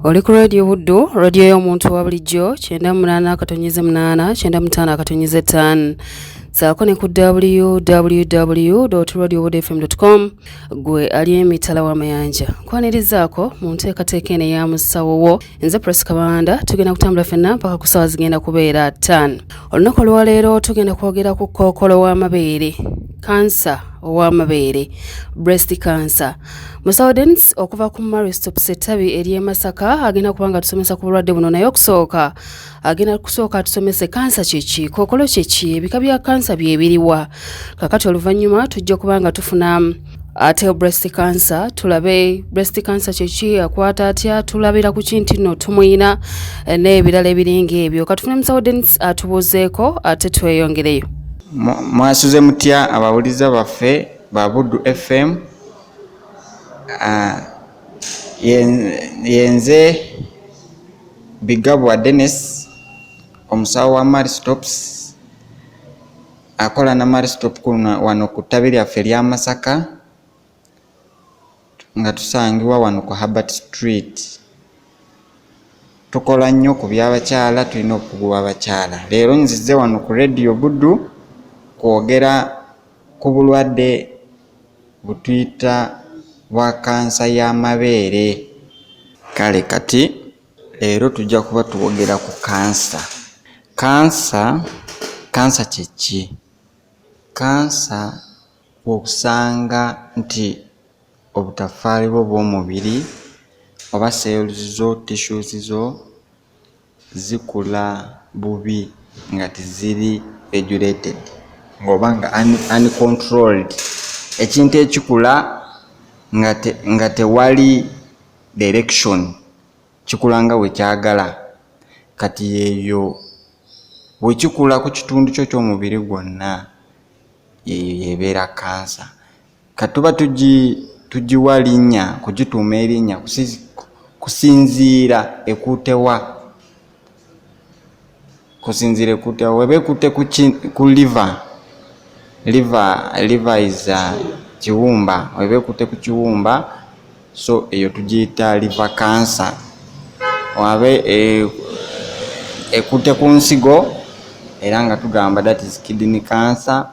oli ku radio buddu radio y'omuntu wa bulijjo kyenda munaana akatonyeze munaana kyenda mutaano akatonyeze ttaano saako ne ku www radio buddu fm com gwe ali emitala w'amayanja kwanirizaako mu nteekateeka eno eya musawo wo nze pres kabanda tugenda kutambula fenna mpaka ku saawa zigenda kubeera ttaano olunaku olwaleero tugenda kwogera ku kookolo w'amabeere kansa ow'amabeere breast cancer musaudens okuva ku maristops ettabi ery'e masaka agenda kuba nga tusomesa ku bulwadde buno naye okusooka agenda kusooka atusomese kansa kyeki kookolo kyeki ebika bya kansa byebiriwa kakati oluvannyuma tujja kuba nga tufuna ate breast cancer tulabe breast cancer kyeki akwata atya tulabira ku kinti no tumuyina eh, n'ebirala ebiringa ebyo katufune musawo denis atubuuzeeko ate tweyongereyo mwasuze mutya abawuliza baffe ba buddu fm uh, yenze bigabwa denis omusawo wa mari stops akola na mari stop wano ku ttabi lyaffe erya masaka nga tusangibwa wano ku Herbert Street. Tukola nnyo ku by'abakyala, tulina obukugu bw'abakyala. Leero nzize wano ku Radio Buddu kwogera ku bulwadde butuyita bwa kansa y'amabeere. Kale kati leero tujja kuba twogera ku kansa. Kansa, kansa kye ki? Kansa Bw'osanga nti obutaffaali bwo bw'omubiri oba cells zo, tissues zo, zikula bubi nga teziri regulated ng'oba nga uncontrolled, ekintu ekikula nga tewali direction, kikula nga bwe kyagala, kati eyo bwe kikula ku kitundu kyo ky'omubiri gwonna, yeyo yebeera kansa katuba tugiwa linnya kugituuma erinnya kusinziira ekuutewa kusinziira ekuutewa weba ekuute ku liva liva liva is uh, kiwumba weba ekuute ku kiwumba so eyo tugiyita liva kansa wabe e, ekutte ku nsigo era nga tugamba that is kidney cancer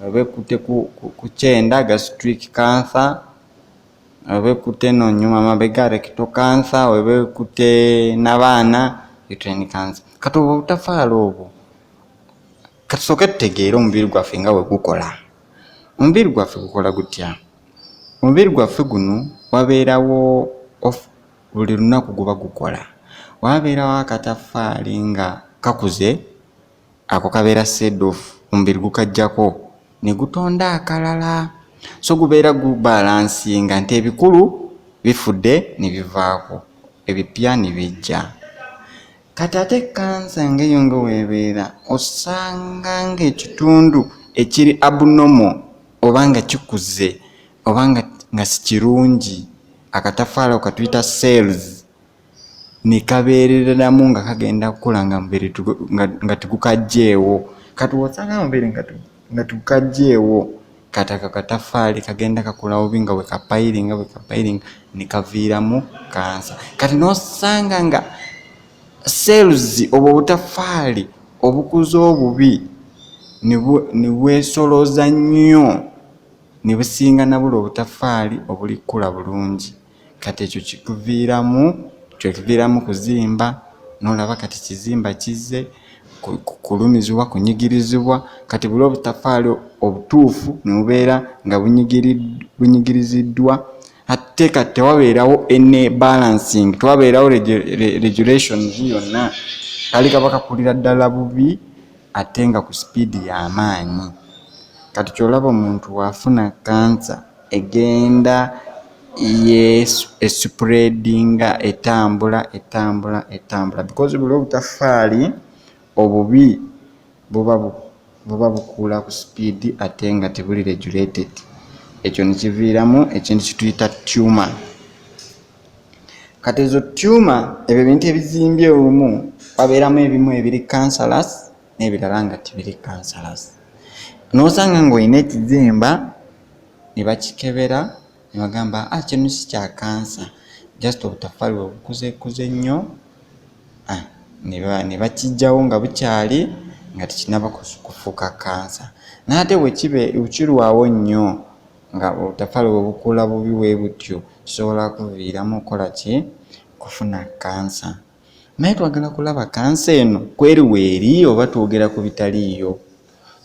oba ekutte ku kyenda gastric cancer oba ekutte no nyuma mabega recto cancer oba ekutte nabaana uterine cancer kati obwo obutafaala obwo katusooke tutegeere omubiri gwaffe nga wegukola omubiri gwaffe gukola gutya Omubiri gwaffe guno wabeerawo buli lunaku guba gukola wabeerawo akataffaali nga kakuze ako kabeera seedof omubiri gukajjako ne gutonda akalala so gubeera gubalansinga nti ebikulu bifudde ne bivaako ebipya ne bijja. kati ate kansa ngeyo nga webeera osanga ngaekitundu ekiri abnormal oba nga kikuze oba nga sikirungi akatafaala okatuyita cells nekabeereramu nga kagenda kukula nga mubiri nga tigukajjeewo kati wosanga mubiri nga nga tukajjeewo kati ako akataffaali kagenda kakula bubi nga wekapayiringa wekapayiringa nekaviiramu kansa kati nosanga nga seeluzi obwo obutaffaali obukuza obubi nebwesolooza nnyo nebusinga nabula obutaffaali obulikula bulungi kati ekyo kikuviiramu kyekiviiramu kuzimba nolaba kati kizimba kizze kulumizibwa kunyigirizibwa kati buli obutafaali obutuufu nebubeera nga bunyigiriziddwa atte kati tewabeerawo ene balancing tewabeerawo regulations yonna kali kaba kakulira ddala bubi ate nga ku sipiidi y'amaanyi kati kyolaba omuntu waafuna kansa Egenda yesupuleedinga etambula etambula etambula because buli obutaffaali obubi buba bukuula ku sipiidi ate nga tebuli regulated ekyo ne kiviiramu ekintu kye tuyita tuma. Kati ezo tuma ebyo ebintu ebizimbye omu wabeeramu ebimu ebiri cancerous n'ebirala nga tibiri kansalas n'osanga ng'olina ekizimba ne bakikebera ne bagamba a ah, kino si kya kansa just obutafaali webukuzeekuze nnyo ah, ne bakijjawo nga bukyali nga tekinaba kufuuka kansa n'ate wekibe wekirwawo nnyo nga obutafaali webukula bubi webutyo kisobola kuviiramu okukola ki kufuna kansa naye twagala kulaba kansa eno kweri weeri oba twogera ku bitaliiyo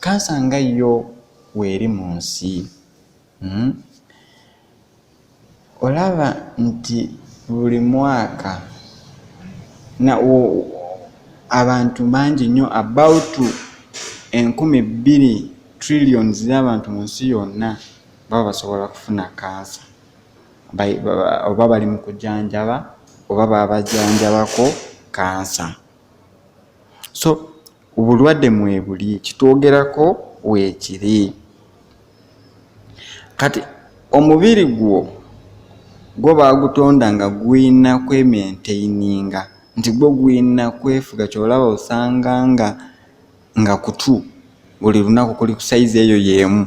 kansa nga yo weeri mu nsi hmm? olaba nti buli mwaka abantu bangi nnyo about enkumi bbiri trillions z'abantu mu nsi yonna baba basobola kufuna kansa oba bali mu kujanjaba oba babajanjabako kansa so obulwadde mwebuli kitwogerako weekiri kati omubiri gwo gwo baagutonda nga gulina kwementaininga nti gwo gulina kwefuga kyolaba osanga nga nga kutu buli lunaku kuli ku sayizi eyo y'emu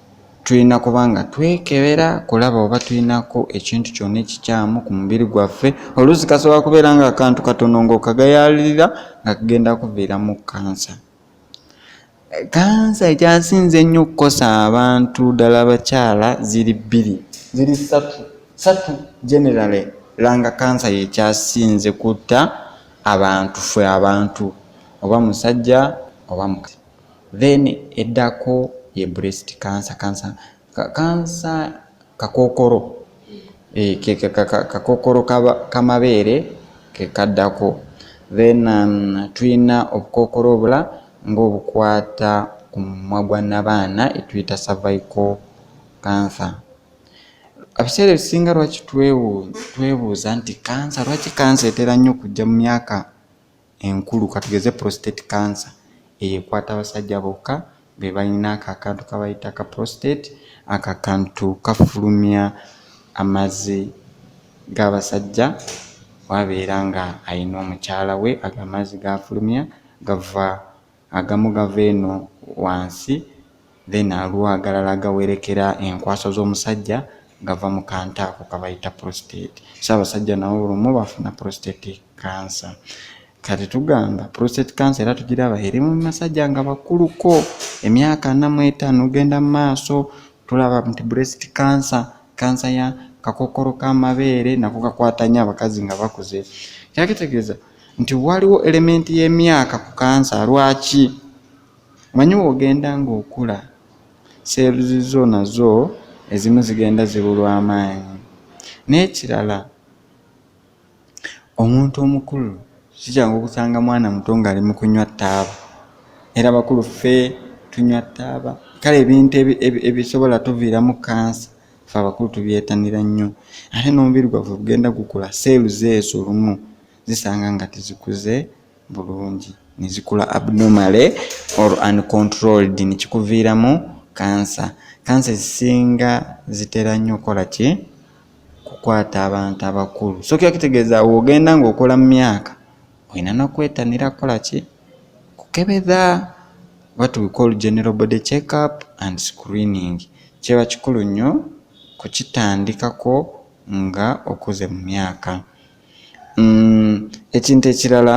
Tulina kuba nga twekebera kulaba oba tulinako ekintu kyonna ekikyamu ku mubiri gwaffe. Oluusi kasobola kubeera nga akantu katono ng'okagayaalirira nga kagenda kuviiramu kansa. Kansa ekyasinze ennyo okukosa abantu ddala abakyala ziri bbiri, ziri ssatu ssatu generally langa kansa yekyasinze kutta abantu ffe abantu oba musajja oba mukazi. then eddako ye breast cancer cancer kansa kakokoro eh, kakokoro kamabeere kekaddako then um, tulina obukokoro obula ngaobukwata ku mumwa gwa nabaana etuyita cervical cancer abiseera ebisinga lwaki twebuuza nti kansa lwaki kansa etera nnyo okujja mu myaka enkulu katugeze prostate cancer eyo ekwata abasajja bokka be balina ako akantu kabayita ka prostate ako akantu kafulumya amazzi g'abasajja wabeera nga alina omukyala we ago amazzi gafulumya gava agamu gava eno wansi then aliwo agalala gawerekera enkwaso z'omusajja gava mu kantu ako kabayita prostate so abasajja nawo olumu bafuna prostate cancer kati tugamba prostate cancer era tugiraba eri mu masajja nga bakuluko emyaka ana mu etaano ogenda mu maaso tulaba nti breast cancer kansa ya kakokolo k'amabeere nako kakwata nnyo abakazi nga bakuze kyakitegeeza nti waliwo elementi y'emyaka ku kansa lwaki manyi wogenda ng'okula cells zo nazo ezimu zigenda zibulwa amaanyi n'ekirala omuntu omukulu sikyangu okusanga mwana muto ng'ali mu kunywa ttaaba era bakulu ffe tunywa ttaaba kale ebintu ebisobola tuviiramu kansa fe abakulu tubyetanira nnyo ate n'omubiri gwaffe gugenda gukula seelu zeezo lumu zisanga nga tezikuze bulungi nezikula abnormally or uncontrolled nekikuviiramu kansa kansa ezisinga zitera nnyo okukola ki kukwata abantu abakulu so kyo kitegeeza ogenda ng'okola mu myaka olina n'okwetanira kukola ki kukebeza what we call general body check up and screening kiba kikulu nnyo kukitandikako nga okuze mu myaka mm, ekintu ekirala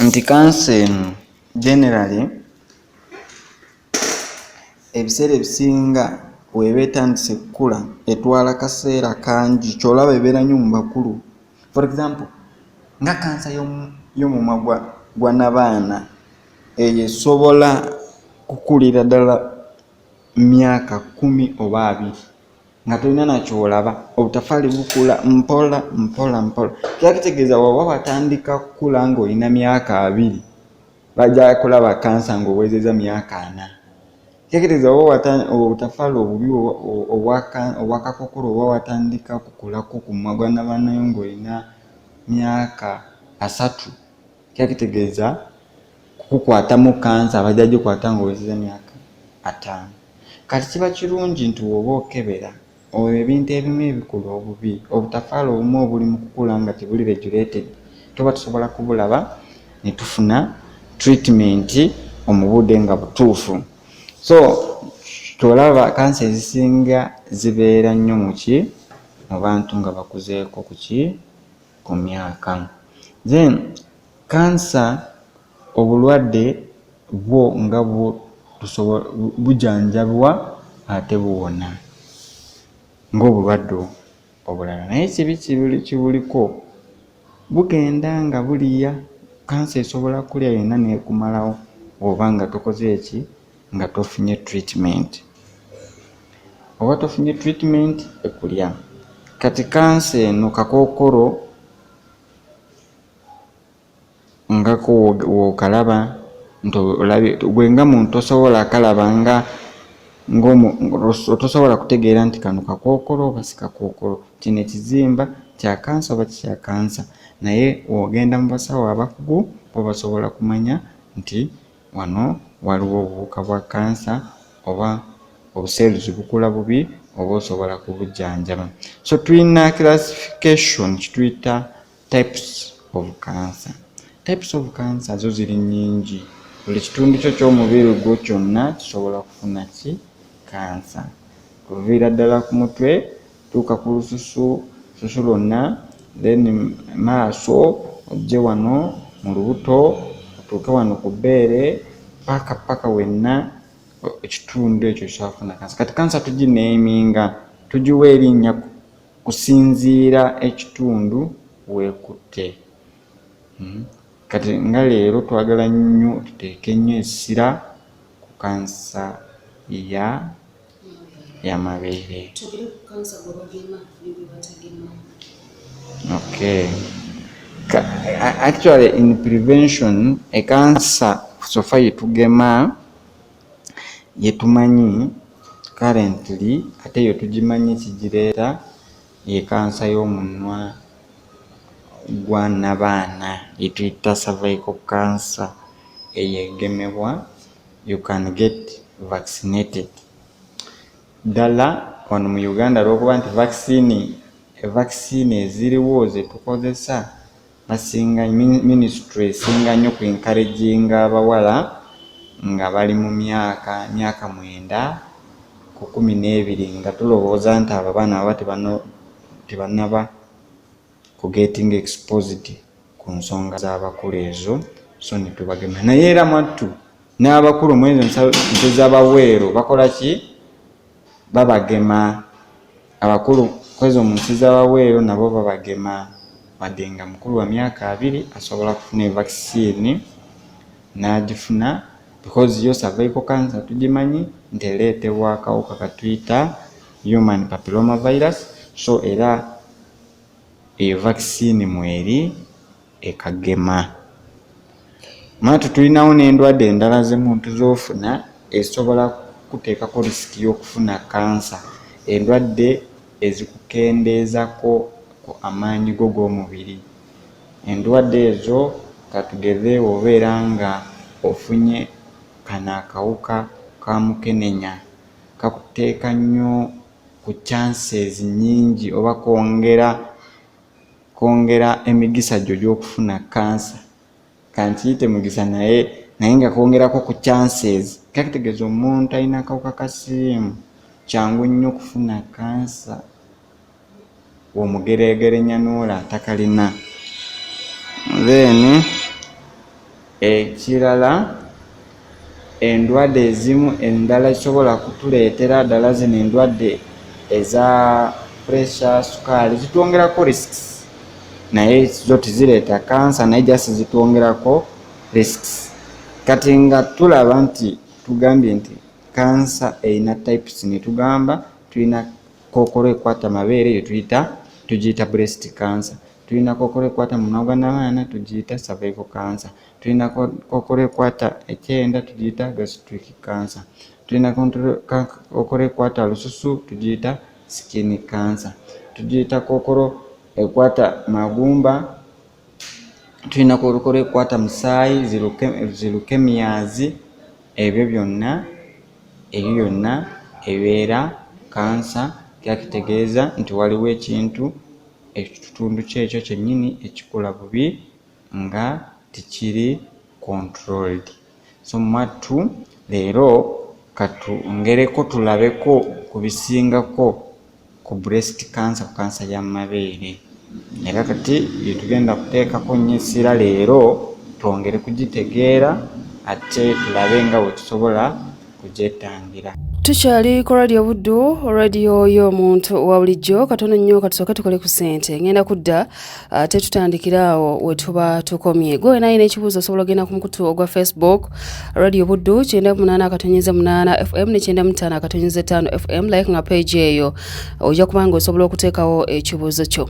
nti kansa eno generally ebiseera ebisinga weeba etandise kukula etwala kaseera kangi kyolaba ebeera nyo mu bakulu for example nga kansa y'omumwa gwa nabaana eyo esobola kukulira ddala myaka kumi oba abiri nga tolina nakyolaba obutafaali bukula mpola mpola mpola kyakitegeeza waba watandika kukula ngaolina myaka abiri bajja kulaba kansa ng'owezeza myaka ana tekereza oba obutafaala obubi obwakakokolo oba watandika kukulako ku magwa nabanayo ng'olina myaka asatu kyakitegeeza kukukwatamu kansa abajja gikwata ng'owezeza myaka ataano kati kiba kirungi nti woba okebera Oyo ebintu ebimu ebikula obubi obutafaala obumu obuli mu kukula nga gyebuli regulated tuba tusobola kubulaba ne tufuna treatment omu budde nga butuufu so kyolaba kansa ezisinga zibeera nnyo muki mu bantu nga bakuzeeko kuki ku myaka then kansa Obulwadde bwo nga bujanjabibwa ate buwona ng'obulwadde obulala naye ekibi kibuliko bugenda nga buliya kansa esobola kulya yonna neekumalawo oba nga tokoze eki nga tofunye treatment oba tofunye treatment ekulya kati kansa eno kakookolo ngako wokalaba gwe nga muntu tosobola akalaba nga otosobola kutegeera nti kano kakookolo oba sikakookolo kino ekizimba kyakansa oba kikyakansa naye wogenda mu basawo abakugu bo basobola kumanya nti wano waliwo obuwuka bwa kansa oba obuseeruzi bukula bubi oba osobola kubujjanjaba so tulina classification kituyita types of cancer types of cancer zo ziri nyingi buli kitundu kyo ky'omubiri gwo kyonna kisobola kufuna ki kansa kuviira ddala ku mutwe tuuka ku lususu susu lwonna then maaso ojje wano mu lubuto otuuke wano ku bbeere paka paka wenna ekitundu ekyo kyafuna kansa kati kansa tugineeminga tugiwa erinnya kusinziira ekitundu weekutte hmm? kati nga leero twagala nnyo tuteeke nnyo essira ku kansa ya yamabeere okay actually in prevention ekansa sofa yetugema yetumanyi currently ate yo tugimanyi kigireeta ye kansa y'omunwa gwa nabaana yetuyita cervical cancer eyo egemebwa you can get vaccinated ddala wano mu uganda lwokuba nti vaccine vaccine eziriwo zetukozesa basinga ministry esinga nnyo ku encouraging abawala nga bali mu myaka myaka mwenda ku kumi n'ebiri nga tulowooza nti abo abaana baba tebannaba ku getting exposed ku nsonga z'abakulu ezo so netubagemera naye era mwattu n'abakulu mwezo nte z'abaweero bakola ki babagema Abakulu kwezo munsi zawabweru nabo babagema wadde nga mukulu wamyaka abiri asobola kufuna evakisiini nagifuna because yo cervical cancer tugimanyi nti ereetebwa akawuka katuyita human papiloma virus so era eyo vaccine mweri e Kagema. Maatu tulinawo n'endwadde endala z'emuntu z'ofuna ezisobola kukuteekako risiki y'okufuna kansa, endwadde ezikukendeezako ku amaanyi go g'omubiri. Endwadde ezo katugeze obeera nga ofunye kano akawuka ka mukenenya, kakuteeka nnyo ku chances nnyingi oba kongera. kwongera emigisa gyo gy'okufuna kansa kankiyite mugisa naye naye nga kwongerako ku chances kakitegeeza omuntu alina akawuka ka siriimu kyangu nnyo okufuna kansa womugeregerenya noola atakalina then Ekirala endwadde ezimu endala zisobola kutuleetera ddala zino endwadde eza pressure sukaali zitwongerako risks naye zo tezireeta kansa naye jasi zitwongerako risks kati nga tulaba nti tugambye nti kansa erina types netugamba tulina kookolo ekwata amabeere eyo tuyita tugiyita breast cancer tulina kokola ekwata munwa gwa nabaana tugiyita cervical cancer tulina kokola ekwata ekyenda tugiyita gastric cancer tulina kokola ekwata lususu tugiyita skin cancer tugiyita kokolo ekwata magumba tulina kokola ekwata musaayi zilukemiyazi ebyo byonna ebyo byonna ebeera kansa kyakitegeeza nti waliwo ekintu ekitundu kyekyo kyenyini ekikola bubi nga tikiri controlled so mwattu leero katungereko tulabeko ku bisingako ku breast cancer ku kansa ya mabeere era kati byetugenda kuteekako nnyo essira leero twongere kugitegeera ate tulabe nga bwetusobola kugyetangira tukyali ku radio buddu radio y'omuntu wa bulijjo katono nnyo katusooke tukole ku ssente ngenda kudda ate uh, tutandikira awo we tuba tukomye gwe naye n'ekibuuzo osobola ogenda ku mukutu ogwa facebook radio buddu kyenda munaana akatonyeza munaana fm ne kyenda mutaano akatonyeza etaano fm like nga page eyo ojja kubanga osobola okuteekawo ekibuuzo kyo